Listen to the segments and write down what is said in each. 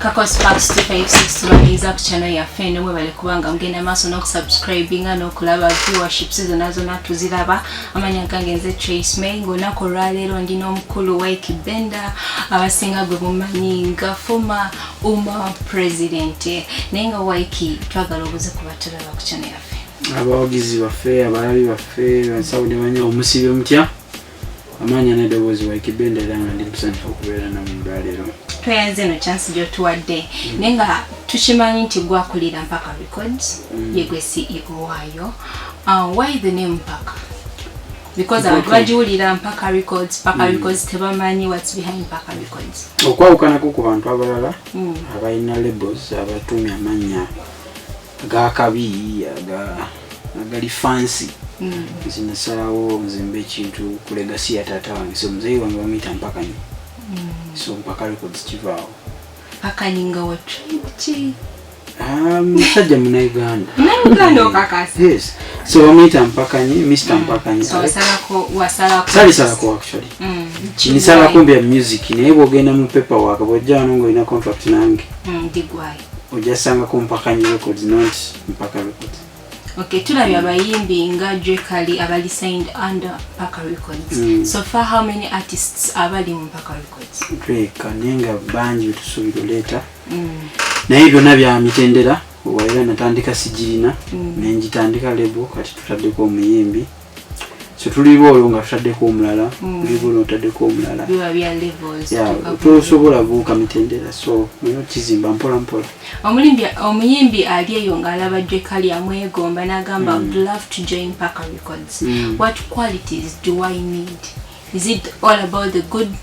kakos parks 256 tubaniriza ku channel yaffe eno mwebale kubanga mugenda maaso n'okusubscribinga n'okulaba viewerships zonna zonna tuziraba amanya gange nze trace may ngaolunaku olwaleero ndi n'omukulu wike benda abasinga gwe mumanyi nga former uma president naye nga wike twagala obuze kuba tulaba ku channel yaffe abawagizi baffe abalabi baffe bansawo ne banya omusibi omutya amaanya n'eddoboozi waikibbe ndera nga ndi musanyufu okubeera namwe olwaleero tweyanze eno chance gyotuwadde mm. naye nga tukimanyi nti gwakulira mpaka records mm. yegwe ceo waayo uh, why the name mpaka because abantu bagiwulira mpaka records mpaka mm. records tebamanyi whats behind mpaka records okwawukanako ku bantu abalala abalina labels abatuumi amannya gakabi aga agali fansi mm. nze nasalawo nzimba ekintu ku legasi ya taata wange so muzeeyi wange bamuyita mpakanyi mm. so mpaka records kivaawo mpakanyi nga watribuki ah, musajja munauganda munauganda okakasa yes so bamuyita mpakanyi mr mm. mpakanyi salisalako actually kinisalako mbi ya music naye bwogenda mu paper waka bwojja wano ngaolina contract nange ojasanga ku mpaka nyi records not mpaka records okay tulabye abayimbi nga jekali abali signed under mpaka records mm. so far how many artists abali mu mpaka records drake naye nga bangi betusuubira oleeta mm. naye byonna bya mitendera owaera natandika sigirina mm. nenjitandika lebo kati tutaddeko omuyimbi so tuli boolo nga tutaddeko omulala mm. tuli boolo ntaddeko omulala tosobola buuka mitendera so nayo kizimba mpola mpola omuyimbi ali eyo ng'alaba jekali amwegomba n'agamba mm. would love to join parker records mm. what qualities do i need is it all about the good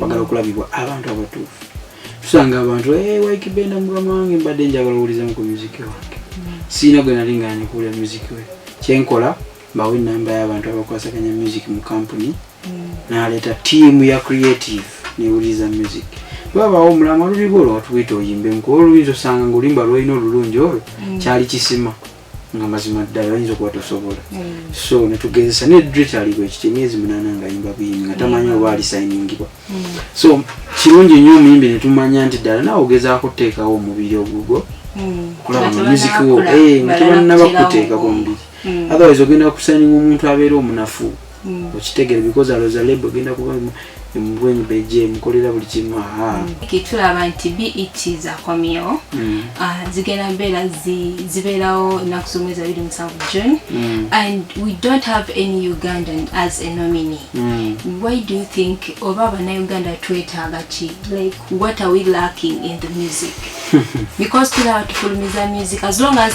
bagala okulabibwa abantu abatuufu tusanga abantu eh, waikibenda mukama wange mbadde njagala owulizamu ku muziki wange siina gwe nali nga nikuwulira muziki we kyenkola mbawo enamba y'abantu abakwasaganya music mu kampuni mm. naleeta tiimu ya creative newuliriza music bwabaawo omulama luliba olwo watuyita oyimbemu kuba oluyinza osanga nga oluyimba lwolina olulungi olwo mm. kyali kisima nga mazima ddala oyinza okuba tosobola mm. so netugezesa ne dritalibwa ekiti emyezi munaana nga yimba buyimbi nga tamanyi oba alisayiningibwa mm. so kirungi nnyo omuyimbi netumanya nti ddala nawe ogezaako okuteekawo omubiri ogugwo mm. okulaba nga music wo eh, nga tebanaba kuteekako omubiri otherwise ogenda kusayininga omuntu abeera omunafu mm. okitegere because aloza lebo egenda kuba embwenyi beje mukolera buli kimu mm. kitulaba nti bet zakomyewo mm. ah, zigenda mbeera zibeerawo ennaku z'omwezi abiri musanvu june and we don't have any ugandan as a nomine why do you think oba abanauganda twetaaga ki like what are we lacking in the music because tulaba tufulumiza music as long as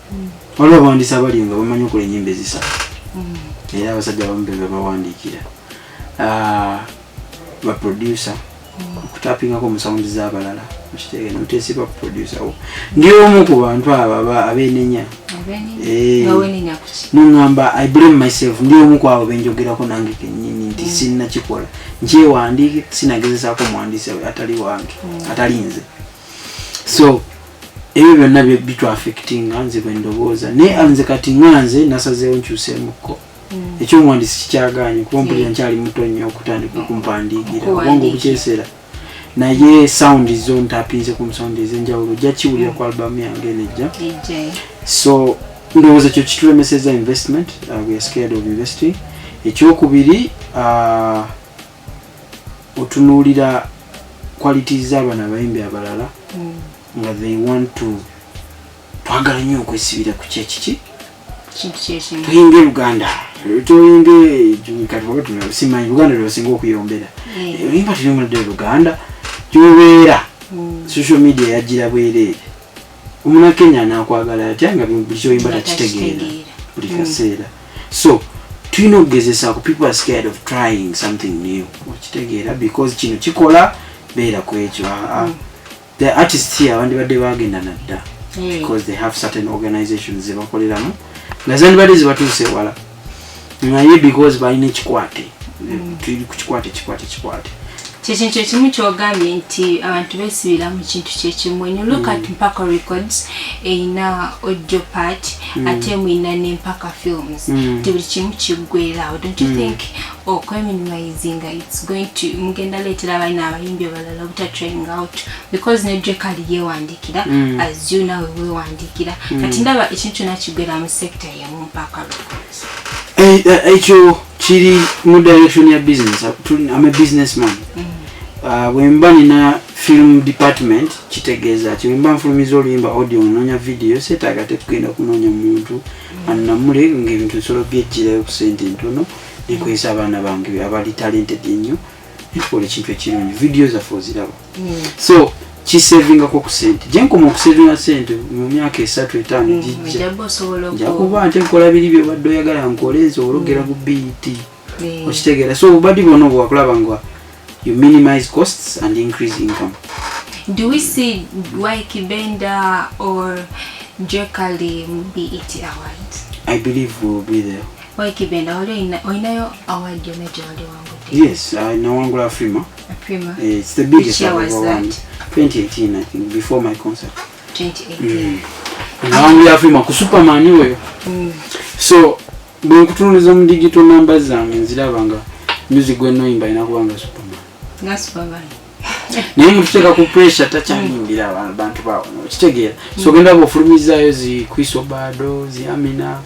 waliwo abawandiisi abali nga bamanyi okola enyimba ezisatu mm. era abasajja abamu be bebawandiikira ah, baproducer mm. okutapingako mu sawundi z'abalala mukitegere noteesiba kuproducer wo ndi omu ku bantu abo abenenya eh, nongamba i blame myself ndi omu ku abo benjogerako nange kenyini nti mm. sinnakikola nkyewandiike sinagezesaako muwandiisi atali wange atali nze so ebyo byonna bitu affectinga nze bwendowooza naye anze kati nga nze nasazeewo nkyuseemukko mm. ekyomuwandisi kikyagaanye kuba mpulira mm. nkyali muto nnyo okutandika okumpandiikira obwongo obukyeseera naye sound zo ntapinze ku sound ezenjawulo ojja kiwulira ku albamu yange enejja so ndowooza ekyo kitulemeseza investment uh, we are scared of investing ekyokubiri uh, otunuulira qualities z'abana abayimbi abalala mm. nga they want to twagala nnyo okwesibira ku kyekiki tuyinge luganda tuyinge katibabatunasimanyi luganda lwebasinga okuyombera oyimba tuyombera ddala luganda gyobeera mm. social media yagira bwereere omunakenya anakwagala atya nga buli kyoyimba takitegeera buli mm. kaseera so tulina okugezesa ku people are scared of trying something new okitegeera because kino kikola beera ku ekyo ah, ah. mm. the artist here abandibadde bagenda nadda mm. because they have certain organizations zebakoleramu nga zandibadde zibatuuse ewala naye because balina ekikwate mm. tuli ku kikwate kikwate kikwate kyekintu ekimu kyogambye nti abantu besibira mu kintu kyekimu en look at mm. mpaka records erina audio part mm. ate mwina nempaka films mm. ti buli kimu kiggwerawo don't you think okweminimayizinga oh, its going to mugenda leetera abalina abayimbi abalala obuta trying out because nedrekali yewandikira as you nawe wewandikira kati ndaba ekintu kyona kiggwera mu sector Eh, eh, ekyo kiri mu direction ya business am a business man mm. ah, bwemba nina film department kitegeeza ki bwemba nfulumiza oluyimba audio ononya video setaaga tekugenda kunoonya muntu mm. annamule ngaebintu nsolo byejjirayo ku sente ntono nekozesa abaana bange abali talented ennyo ntukola ekintu ekirungi video zaffe oziraba mm. so kisevingako ku sente gyenkoma okusevinga sente mu myaka esatu etaano mm, gijja njakuba nte nkola biri byobadde oyagala nkole nsobola okugera ku bet okitegeera so obubadi bwona obwo wakulaba nga you minimize costs and increase income do we see wikibenda or jekali mu bet award i believe will be there wikibenda olinayo award yona gyewali wangu yes nawangula afrima Prima. Eh, it's the biggest Which year was that? 2018 I think before my concert. 2018. Mm. Nawangu ya Prima ku Superman oyo. Mm. So bwe nkutunuliza mu digital number zange nziraba nga music gwe noyimba ina kubanga Superman. Nga Superman. naye mututeeka ku pressure takyayimbira abantu bawo kitegeera so genda bwofulumizayo zi kriso bado zi amina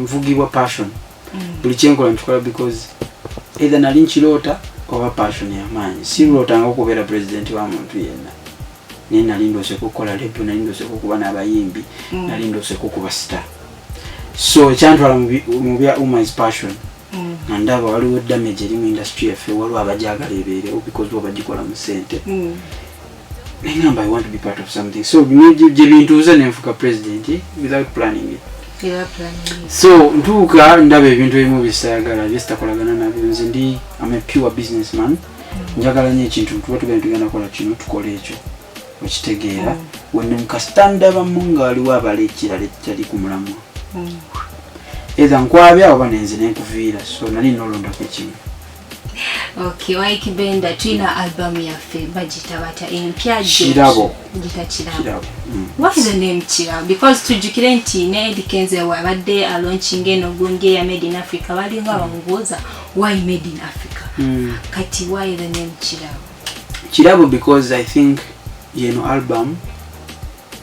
nvugibwa passion mm. buli kyenkola nkikola because either nali nkiroota oba passion yamaanyi sirootanga okubeera president wa muntu yenna naye nali ndooseko okukola lebu nali ndooseko okuba n'abayimbi mm. nali ndooseko okuba star so ekyantwala mu bya umis passion mm. nga ndaba waliwo damage eri mu industry yaffe waliwo abajagala ebeerewo because wabagikola mu sente nengamba i want to be part of something so gyebintuuza nenfuka president eh, without planning it so ntuuka ndaba ebintu ebimu byesitayagala byesitakolagana nabyo nze ndi am a pure business man mm. njagala nyo ekintu tuba tugenda tugenda kola kino tukola ekyo okitegeera mm. wenemukasita ndabamu nga waliwo abala ekirala ekitali ku mulamwa mm. etha nkwabya oba nenze nenkuviira so nali nolondako ekimu Okay, Waiki Benda tulina album yaffe bagiyita batya empya kirabo giyita kirabo mm. what is the name kirabo because tujjukire nti ne Eddie Kenzo abadde alaunchinga eno gundi eya made in Africa balinga bamubuuza why made in Africa mm. kati why the name kirabo kirabo because I think yeno album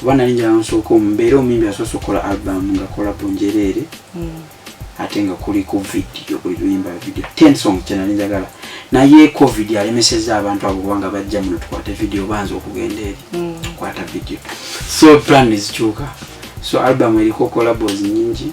kuba nali njala nsooka omu mbeera omuyimbi asoose okukola albamu nga kolabo njereere hmm. ate nga kuli ku vidiyo buli luyimba vidiyo ten song kyenali njagala naye covid alemeseza abantu abo kubanga bajja muno tukwate vidiyo banza okugenda eri hmm. tukwata vidiyo so plan ezikyuka so albamu eriko kolabos nyingi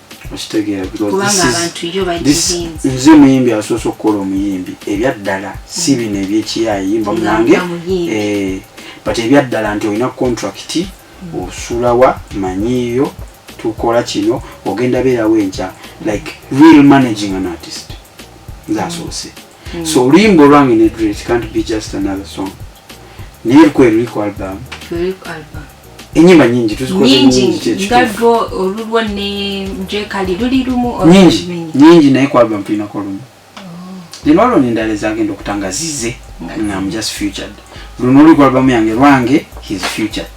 okitegeera nze muyimbi asoose okukola omuyimbi ebyaddala si mm. bino ebyekiyaayi yimba munange eh, but ebyaddala nti olina contract mm. osulawa manyiiyo tukola kino ogenda beerawo enkya like real managing an artist nze asoose mm. so oluyimba olwange nedret can't be just another song naye lukwe luli ku album enyimba nyingi tuzikoznyingigadwo olulwo ne jekali luli lumu nyingi nyingi naye kwalba mpinako lumu zinwalo oh. nendala ezagenda okutanga zize ngam just futured luno oluliku albamu yange lwange his futured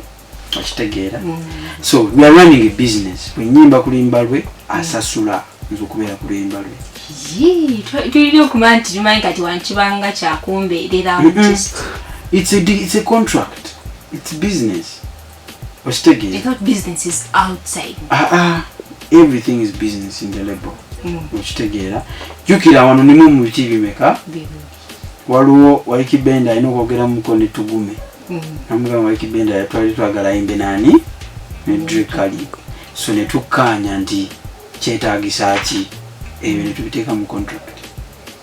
okitegeera mm. so we are running a business bwenyimba kulimba lwe asasula nze okubeera kulimba lwe tulina okuba nti tumanyi kati wankibanga kyakumbeerera it's a contract it's business okitegeera i thought business is outside uh ah, -uh. Ah. everything is business in the label mm. okitegeera jukira wano nimu mu biki bimeka waliwo waliki benda alina okwogera muko ne tugume mm. namugamba waliki benda yatwali twagala ayimbe naani ne mm. drikali so ne tukkaanya nti kyetaagisa ki ebyo ne tubiteeka mu contract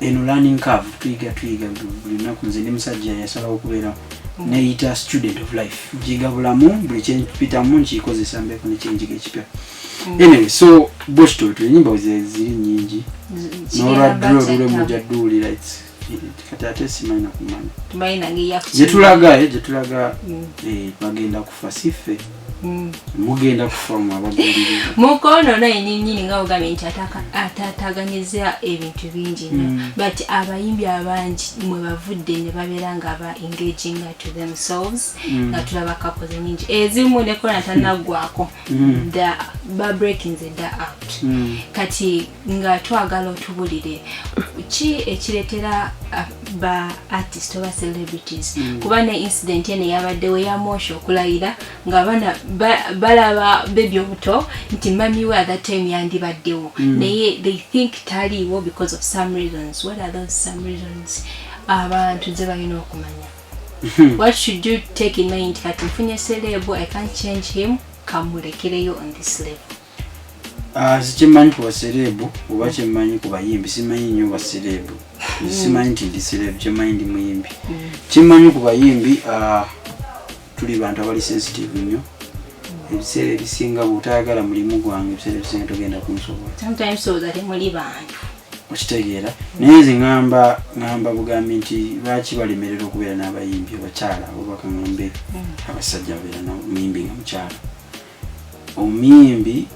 eno learning curve tuyiga tuyiga buli lunaku nze ndi musajja yasalawo okubeera mm. neyita student of life njiga bulamu buli kyempitamu nkikozesa mbeeko nekyenjiga ekipya mm. anyway so bwekityo bwetyo enyimba ziri nyingi nolwadro lule muja duwulira kati ate simanyi nakumanya gyetulaga eh, gyetulaga mm. eh, bagenda ku fasife mm. mugenda kufa mwabagulire mukono naye ninyini nga ogambye nti atataganyizza ebintu bingi nyo mm. but abayimbi abangi mwe bavudde ne babeera nga aba engaging to themselves mm. nga tulaba kakoze nyingi ezimu nekona tanaggwako ba breaking the da out kati nga twagala otubulire ki ekiretera uh, ba artist oba celebrities mm. kuba ne incident eno yabaddewo yamosha okulayira nga abana balaba bebi obuto nti mami we athe time yandibaddewo mm. naye they think taliiwo because of some reasons what are those some reasons abantu ze balina okumanya hmm. what should you take in mind kati nfunye celebo i can't change him kamulekereyo on this level Ah, sikimanyi ku basereebu oba kyemanyi ku bayimbi simanyi nnyo basereebu mm. simanyi nti ndi sereebu kyemanyi ndi muyimbi mm. kyemanyi ku bayimbi ah, tuli bantu abali sensitive nnyo ebiseera ebisinga bwotayagala mulimu gwange ebiseera ebisinga togenda kunsobola okitegeera naye nze ŋamba ŋamba bugambi nti lwaki balemerera okubeera n'abayimbi abakyala obubaka ŋambe mm. abasajja babeera muyimbi nga mukyala omuyimbi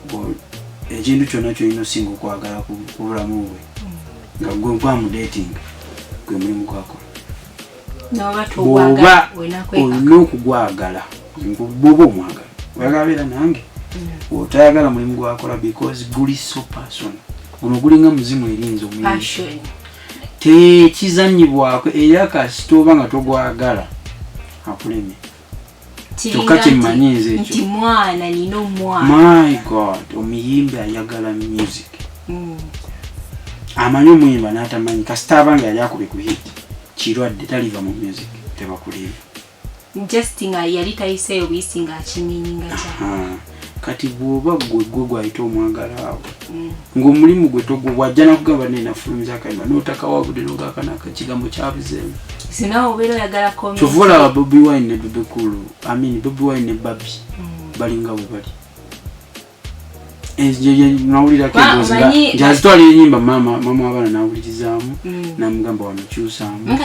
ekintu kyonna kyolina osinga okwagala ku bulamu bwe nga gwe gwamudetinga gwe mulimu gwakola bwoba olina okugwagala bwoba omwagala oyagala beera nange mm. otayagala mulimu gwakola because guli so person guno gulinga muzimu erinza omuyimbi tekizanyibwako era kasita oba nga togwagala akulemye kyokka kyemmanyi nze ekyo mwana nina omwana my god omuyimbi ayagala music mm. amanyi omuyimba n'atamanyi kasita abanga yali akube ku hit kirwadde taliva mu music tebakuliiva just nga yali tayiseeyo buyisi ng'akinyinyi nga kya kati bwoba gwe gwe gwayita omwagala awo mm. ngaomulimu gwe togwewajja nakugamba nenafulumza akaima notakawabude nogakanaka kigambo kyabuzeemu kyova olaba bobi wine ne bebekulu amin bobi wine ne babi mm. balinga bwebali nawulirakeazitwala enyimba mama mama wabaana nawulirizaamu mm. namugamba wamukyusaamu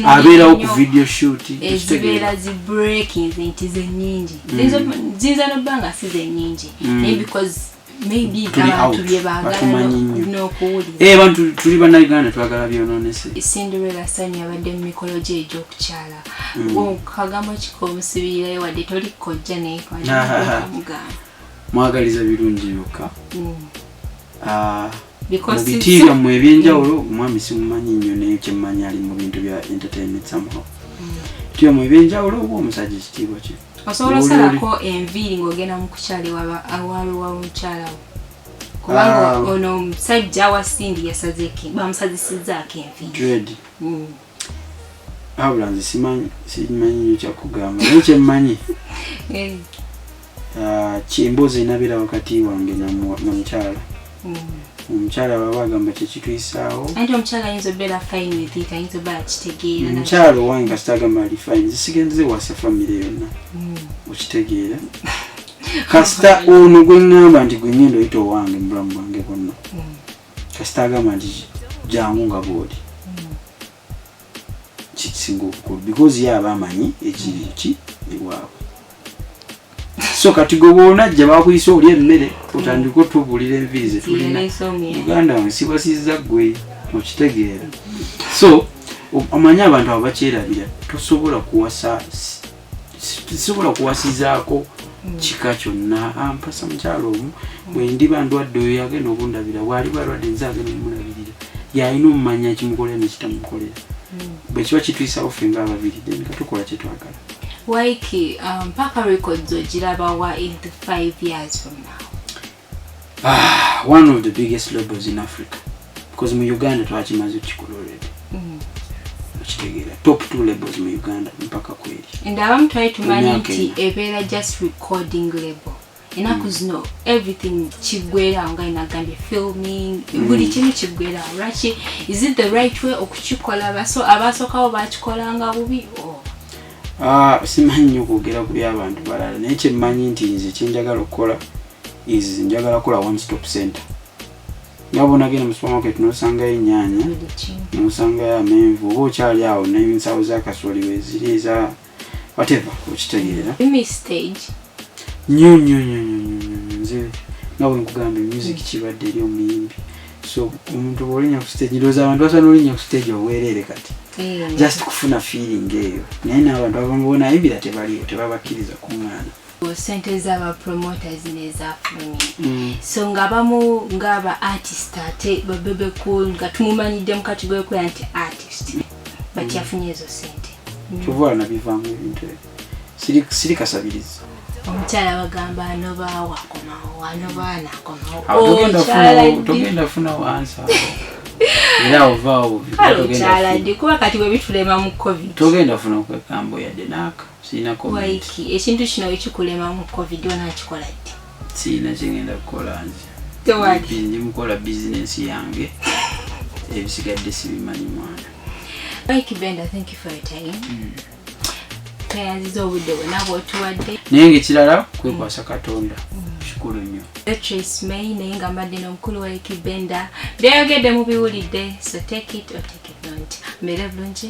abeerawo ku video shoot ziyinza nobba nga si zenyingi mm. naye because maybe abantu bye baagala n'okuwulira eh, abantu tuli bannayuganda twagala byononese cinderella sani yabadde mu mikolo gye egy'okukyala mm. kagambo kika omusibirirayo wadde toli kojja naye mugamba mwagaliza birungi byokka mm. ah, mu biti byammwe ebyenjawulo mm. omwami simumanyi nnyo naye kyemmanyi ali mu bintu bya entertainment somehow mm. biti byammwe ebyenjawulo oba omusajja ekitiibwa kye osobola osalako enviiri ng'ogenda mu kukyala ewawe wa mukyala wo kubanga ah. ono omusajja wa sindi yasazeki bamusazisizaako enviiri mm. abula nze simanyi simanyi nyo kyakugamba naye kyemmanyi eh. ah, kyemboozi enabera wakati wange namukyala mm. omukyala baba agamba kyekitwisaawo omukyala owange kasita agamba ali fine zisigenze wasa famire yonna mm. okitegeera kasita ono gweŋŋamba nti gwenyenda oyita owange mubulamu bwange bwonna mm. kasita agamba nti jangu nga bwoli kikisinga obukulu because ye aba amanyi ekiri ki ewaabwe so kati gwe bwonajja bakuyisa oli emmere otandika otubulira enviiri zetulina uganda nsibasiza gwe okitegeera so omanyi abantu abo bakyerabira tosobola kuwasa sisobola kuwasizaako mm. kika kyonna ampasa ah, mukyalo omu mm. bwendiba ndwadde oyo yagenda okundabira bwali balwadde nze agenda omulabirira yalina omumanya kimukolera nekitamukolera mm. bwekiba kitwisawo ffe nga ababiri then katukola kyetwagala waiki mpaka um, records ogirabawa in the five years from now Ah, one of the biggest labels in Africa. Because mu Uganda twakimaze kikulu already. Mm. Okitegeera. Top two labels mu Uganda mpaka kweli. And abamu twali tumanyi nti ebeera just recording label. enaku mm. zino everything kigwerawo nga inagambye filming mm. buli kimu kigwerawo lwaki is it the right way okukikola baso abasookawo bakikolanga bubi oh. Ah, simanyi nyo kwogera ku byabantu balala naye kyemmanyi nti nze kyenjagala okukola is njagala kukola one stop center nga bwonagenda mu supermarket nosangayo ennyanya nosangayo amenvu oba okyali awo nensawo zakasooli weziri eza wateva okitegeera nyo nyo nyo nyo nze nga bwenkugambye music kibadde eri omuyimbi so omuntu bwolinya ku stage ndowooza abantu basobola nolinya ku stage obwereere kati eh. just kufuna feeling eyo naye naabantu abamu bona ayimbira tebaliyo tebabakkiriza ku mwana sente zaba promoters nezafulumi mm. so nga bamu ngaaba artist ate babebe cool nga tumumanyidde mukati gwekoya nti artist but mm. yafunye ezo sente mm. kyova nabivamu ebintu ebyo siri siri kasabirizi omukyala bagamba anobaawo akomawo anobaa nakomawo togenda funa wansa era ovaawo okyala ndi kuba kati bwebitulema mu covid togenda funa kwekambo yadde naaka sirina waiki ekintu kino wekikulema mu covid onakikola ddi sirina kyengenda kukola nze tewali ndi mukola bizinensi yange ebisigadde sibimanyi mwana Mike Bender, thank you for your time. Mm. tweyaziza obudde bwona bwotuwadde naye ngaekirala kwekwasa katonda kikulu nnyo trace may naye nga mbadde nomukulu wa ekibenda byayogedde mubiwulidde so take it or take it not mbeere bulungi